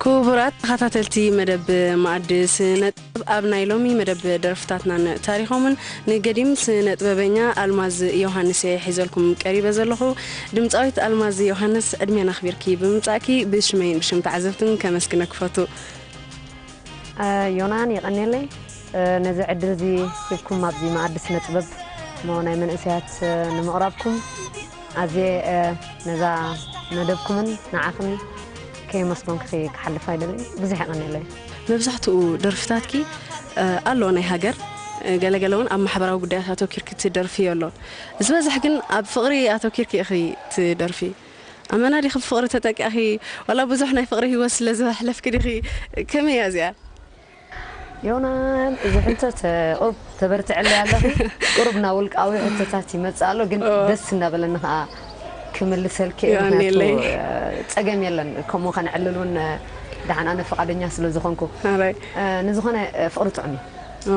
ኩቡራት ተኻታተልቲ መደብ መኣዲ ስነጥበብ ኣብ ናይ ሎሚ መደብ ደርፍታትናን ታሪኾምን ንገዲም ስነጥበበኛ ኣልማዝ ዮውሃንስ እየ ሒዘልኩም ቀሪበ ዘለኹ ድምጻዊት ኣልማዝ ዮውሃንስ ዕድሜና ኣኽቢርኪ ብምምጻእኪ ብሽመይን ብሽም ተዓዘብትን ከመስግነኪ ፈቱ። ዮናን የቀኔለይ ነዚ ዕድል እዚ ሂብኩም ኣብዚ መኣዲ ስነጥበብ እሞ ናይ መንእሰያት ንምቕራብኩም ኣዝየ ነዛ መደብኩምን ንዓኽን ከየመስጎንክኺ ክሓልፍ ኣይደልን። ብዙሕ የቐንየለይ። መብዛሕትኡ ደርፍታትኪ ኣሎ ናይ ሃገር ገለ ገለ እውን ኣብ ማሕበራዊ ጉዳያት ኣተኪርኪ ትደርፍዮ ኣሎ ዝበዝሕ ግን ኣብ ፍቕሪ ኣተኪርኪ ኢኺ ትደርፊ ኣመና ዲኺ ብፍቕሪ ተጠቂዕኺ ዋላ ብዙሕ ናይ ፍቕሪ ሂወት ስለ ዘሕለፍኪ ዲኺ ከመይ እያ እዚኣ ዮናን እዚ ሕቶት ቁሩብ ተበርትዕለይ ኣለኺ ቁሩብ ናብ ውልቃዊ ሕቶታት ይመጽእ ኣሎ ግን ደስ እናበለኒ ከኣ ክምልሰልኪ እየ ምክንያቱ ጸገም የለን ከምኡ ከነዕልል እውን ደሓን ኣነ ፍቃደኛ ስለ ዝኾንኩ ንዝኾነ ፍቅሪ ጥዑም እዩ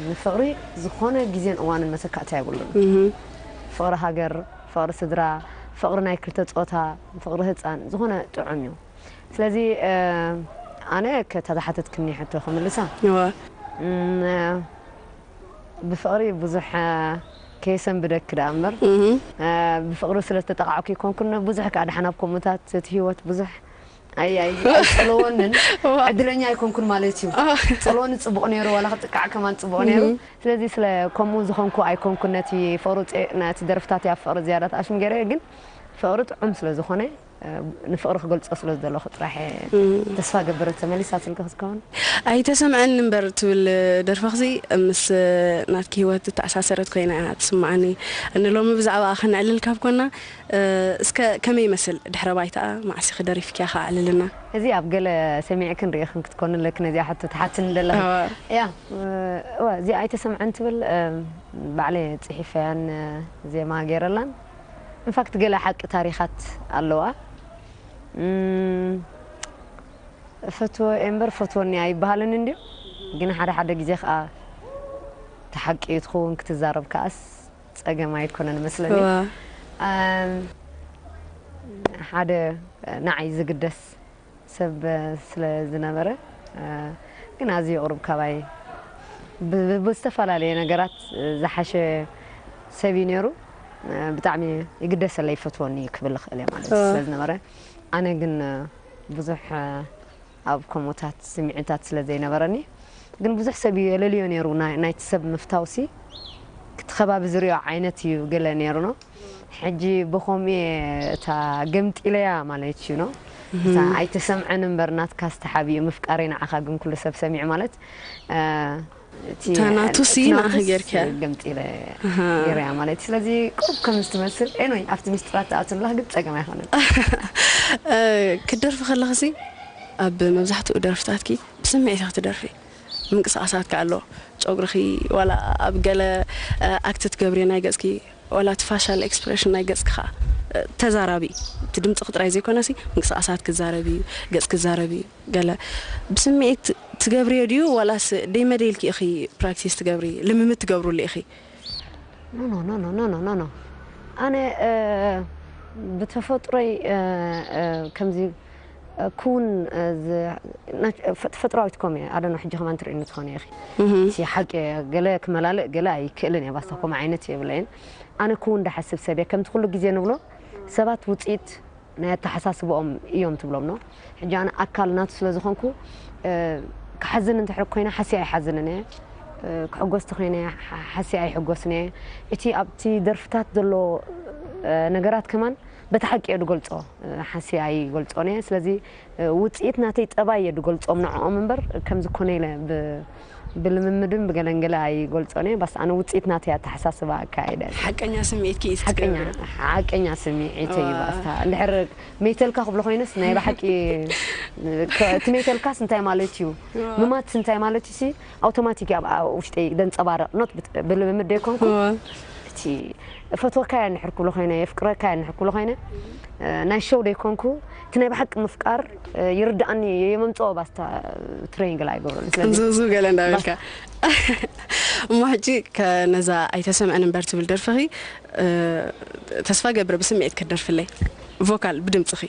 ንፍቕሪ ዝኾነ ግዜን እዋንን መተካእታ የብሉን ፍቕሪ ሃገር ፍቕሪ ስድራ ፍቕሪ ናይ ክልተ ጾታ ፍቕሪ ህጻን ዝኾነ ጥዑም እዩ ስለዚ ኣነ ከታ ዝሓተትክኒ ሕቶ ክምልሳ እወ ብፍቕሪ ብዙሕ ከየሰንብደኪ ደኣ እምበር ብፍቕሪ ስለ ዝተጠቓዕኩ ኣይኮንኩን ብዙሕ ከኣ ደሓን ኣብ ከምኡታት እቲ ህይወት ብዙሕ ኣይ ኣይ ኣይጸለወንን ዕድለኛ ኣይኮንኩን ማለት እዩ ጸለወኒ ጽቡቕ ነይሩ ዋላ ክጥቃዕ ከማን ጽቡቕ ነይሩ ስለዚ ስለ ከምኡ ዝኾንኩ ኣይኮንኩን ነቲ ፍቕሪ ነቲ ደርፍታት ኣብ ፍቕሪ ዝያዳ ተኣሽም ገይረ ግን ፍቕሪ ጥዑም ስለ ዝኾነ ንፍቕሪ ክገልጾ ስለ ዝደለኹ ጥራሕ እየ። ተስፋ እገብር ተመሊሳ ትልኪ ክትከውን። ኣይተሰምዐኒ እምበር ትብል ደርፍኽሲ ምስ ናትኪ ሂወት ዝተኣሳሰረት ኮይና እያ ትስምዓኒ። ንሎሚ ብዛዕባኣ ከነዕልል ካብ ኮና እስከ ከመይ ይመስል ድሕረ ባይታኣ መዓስ'ኺ ደሪፍክያ ከ ኣዕልልና። እዚ ኣብ ገለ ሰሚዕክን ሪኢኽን ክትኮኒ ኣለኪ ነዚኣ ሕቶ ትሓትኒ ዘለኺ። እያ እወ እዚኣ ኣይተሰምዐን ትብል ባዕለይ እየ ጽሒፈያን ዜማ ጌረላን። እንፋክት ገለ ሓቂ ታሪካት ኣለዋ እፈትዎ እየ እምበር ፈትወኒ ኣይበሃልን እንድዩ ግን ሓደ ሓደ ግዜ ከኣ እቲ ሓቂ እዩ ትኽውን ክትዛረብ ከኣስ ጸገም ኣይኮነን መስለኒ እዋ ሓደ ንዓይ ዝግደስ ሰብ ስለ ዝነበረ ግን ኣዝዩ ቁሩብ ካባይ ብዝተፈላለየ ነገራት ዝሓሸ ሰብ እዩ ኔሩ ብጣዕሚ ይግደሰለይ ይፈትወኒ እዩ ክብል ይኽእል እየ ማለት ስለ ዝነበረ ኣነ ግን ብዙሕ ኣብ ከምኡታት ስምዒታት ስለ ዘይነበረኒ ግን ብዙሕ ሰብ እዩ የለልዮ ኔሩ ናይቲ ሰብ ምፍታውሲ እቲ ከባቢ ዝሪኦ ዓይነት እዩ ገለ ኔሩ ነው ሕጂ ብከምኡ እየ እታ ገምጢለያ ማለት እዩ ኖ እታ ኣይተሰምዐን እምበር ናትካስ ተሓቢኡ ምፍቃረይ ንዓካ ግን ኩሉ ሰብ ሰሚዑ ማለት እቲ እታ ናቱ ሲ እቲ ንዓኺ ናቱስ ጌርክያ። ገምጢለ ገረያ ማለት እዩ ስለዚ ቁሩብ ከም ዝትመስል ኤንወይ ኣብቲ ምስጢራት ትኣቱ ኣለካ ግን ጸገም ኣይኮነን እ፣ ክትደርፊ ከለኽሲ ኣብ መብዛሕትኡ ደርፍታትኪ ብስምዒት ኢኺ ትደርፊ ምንቅስቓሳትኪ ኣሎ ጨጉርኺ ዋላ ኣብ ገለ እ፣ ኣክት ትገብርዮ ናይ ገጽኪ ዋላ እቲ ፋሻል ኤክስፕረሽን ናይ ገጽኪ ከኣ ተዛራቢ እዩ። እቲ ድምጽኺ ጥራይ ዘይኮነሲ ምንቅስቓሳትኪ ክዛረብ እዩ፣ ገጽኪ ክዛረብ እዩ። ገለ ብስምዒት ትገብርዮ ድዩ ዋላስ ደይ መደይ ኢልኪ ኢኺ ፕራክቲስ ትገብሪ፣ ልምምድ ትገብርሉ ኢኺ? ኖኖኖኖኖኖኖ ኣነ ብተፈጥሮይ ከምዚ ክዉን ተፈጥራዊት ኮሜ ኣዶኖ ሕጂ ከማን ትርእኒ ትኮኒ ኢኪ እቲ ሓቂ ገለ ክመላልእ ገለ ኣይክእልን እየ ባስታ ኮምኡ ዓይነት የብለይን ኣነ ክዉን ድሓስብ ሰብ እየ ከምቲ ኩሉ ግዜ ንብሎ ሰባት ዉጺኢት ናይ ኣታሓሳስብኦም እዮም ትብሎም ን ሕጂ ኣነ ኣካል ናቱ ስለ ዝኮንኩ ክሓዝን እንተሕር ኮይነ ሓስየ ኣይሓዝንን እየ ክሕጎስ ተኮይነ ሓስየ ኣይሕጎስን እየ እቲ ኣብቲ ደርፍታት ዘሎ ነገራት ከማን በቲ ሓቂ እየ ድገልጾ ሓስየ ኣይገልጾን እየ ስለዚ ውጽኢት ናተይ ጠባይ እየ ድገልጾም ንዕኦም እምበር ከምዚ ኮነ ኢለ ብ ብልምምድን ብገለን ገለ ኣይገልጾን እየ ባስ ኣነ ውጽኢት ናተይ ኣተሓሳስባ ኣካያይዳ እየ። ሓቀኛ ስምዒትኪ እዩ እቲ ሓቀኛ ትገብርዮ። ሓቀኛ ስምዒተይ እዩ ባስ እታ እንድሕር መይተልካ ክብሎ ኮይነስ ናይ ብሓቂ እቲ መይተልካስ እንታይ ማለት እዩ ምማትስ እንታይ ማለት እዩሲ ኣውቶማቲክ ኣብ ውሽጢ ዘንጸባርቕ ኖት ብልምምድ ዶ ይኮንኩ እቲ እፈትወካያ እንድሕር ክብሎ ኮይነ የፍቅረካያ እንድሕር ክብሎ ኮይነ ናይ ሸው ዶ ይኮንኩ እቲ ናይ ብሓቂ ምፍቃር ይርድኣኒ የመምጽኦ ባስታ ትሬኒንግ ላይ ይገብረሉ ቅንዝብዝብ ገለ እንዳበልካ እሞ ሕጂ ነዛ ኣይተሰምዐን እምበር ትብል ደርፍኺ ተስፋ ገብረ ብስምዒት ክትደርፍለይ ቮካል ብድምፅኺ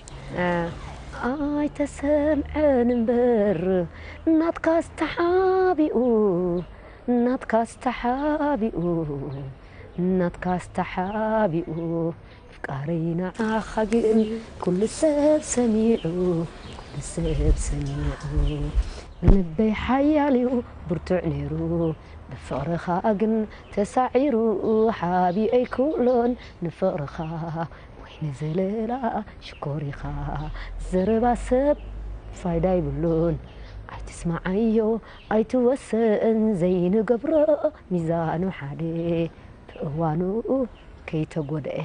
ኣይተሰምዐን እምበር ናትካስ ተሓቢኡ ናትካስ ተሓቢኡ ናትካስ ተሓቢኡ ኣፍቃረይ ንዓኻ ግን ኩሉ ሰብ ሰሚዑ ኩሉ ሰብ ሰሚዑ ንልበይ ሓያልዩ ብርቱዕ ኔሩ ብፍቕርኻ ግን ተሳዒሩ ሓቢኤይ ኩሎን ንፍቕርኻ ወይ ንዘለላ ሽኮር ኢኻ ዘረባ ሰብ ፋይዳ ይብሉን ኣይትስማዓዮ ኣይትወሰን ዘይንገብሮ ሚዛኑ ሓደ ብእዋኑ ከይተጎደኤ።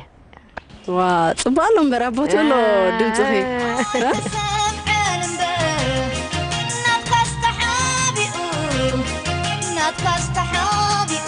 ዋእ ጽቡቅ ኣሎ እምበር ኣብ ቦትኡ ኣሎ ድምጽኺ እ። ናትካስ ተሓቢኡ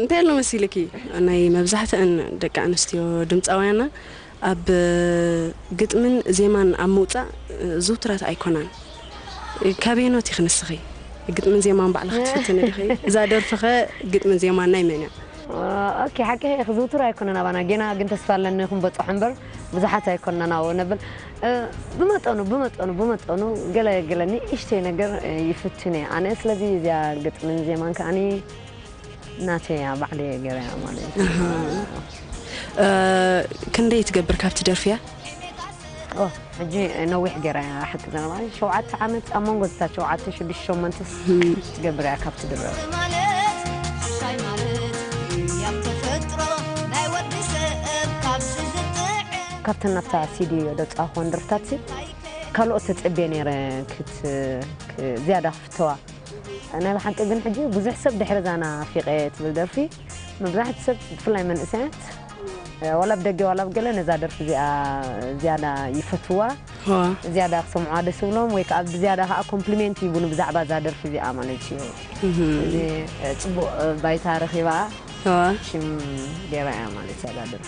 እንታይ ኣሎ መሲልኪ ናይ መብዛሕትኣን ደቂ ኣንስትዮ ድምጻውያና ኣብ ግጥምን ዜማን ኣብ ምውጻእ ዝውትራት ኣይኮናን ካበየኖት ኢኺ ንስኺ ግጥምን ዜማን ባዕልኺ ትፍትኒ ዲኺ እዛ ደርፍኸ ግጥምን ዜማን ናይ መን እያ ኦኬ ሓቂ ኢኺ ዝውቱር ኣይኮነን ኣባና ጌና ግን ተስፋ ኣለኒ ክንበጽሖ እምበር ብዙሓት ኣይኮንናን ኣብኡ ነብል ብመጠኑ ብመጠኑ ብመጠኑ ገለ ገለ ንእሽተይ ነገር ይፍትን እየ ኣነ ስለዚ እዚኣ ግጥምን ዜማን ከዓኒ ናተይ እያ ባዕለይ እየ ገይረያ ማለት እዩ ክንደይ ትገብር ካብቲ ደርፊ እያ ሕጂ ነዊሕ ገይራ እያ ሓቂ ዘረባ ሸውዓተ ዓመት ኣብ መንጎ ዝታ ሸውዓተ ሽዱሽተ ሸሞንተስ ትገብር እያ ካብቲ ድረፍ ካብተን ናብታ ሲዲ ዘውጻእክወን ደርፍታትሲ ካልኦት ተጸብየ ነይረ ዝያዳ ክፍተዋ። ናይ ብሓቂ ግን ሕጂ ብዙሕ ሰብ ድሕሪ እዛ ናፊቐ ትብል ደርፊ መብዛሕትኡ ሰብ ብፍላይ መንእሰያት ዋላ ብ ደገ ዋላ ብ ገለ ነዛ ደርፊ እዚኣ ዝያዳ ይፈትዋ ዝያዳ ክሰምዑዋ ደስ ብሎም ወይ ከዓ ብዝያዳ ከዓ ኮምፕሊሜንት ይቡኒ ብዛዕባ እዛ ደርፊ እዚኣ ማለት እዩ እዚ ፅቡቅ ባይታ ረኪባ ሽም ገይራ እያ ማለት እያ እዛ ደርፊ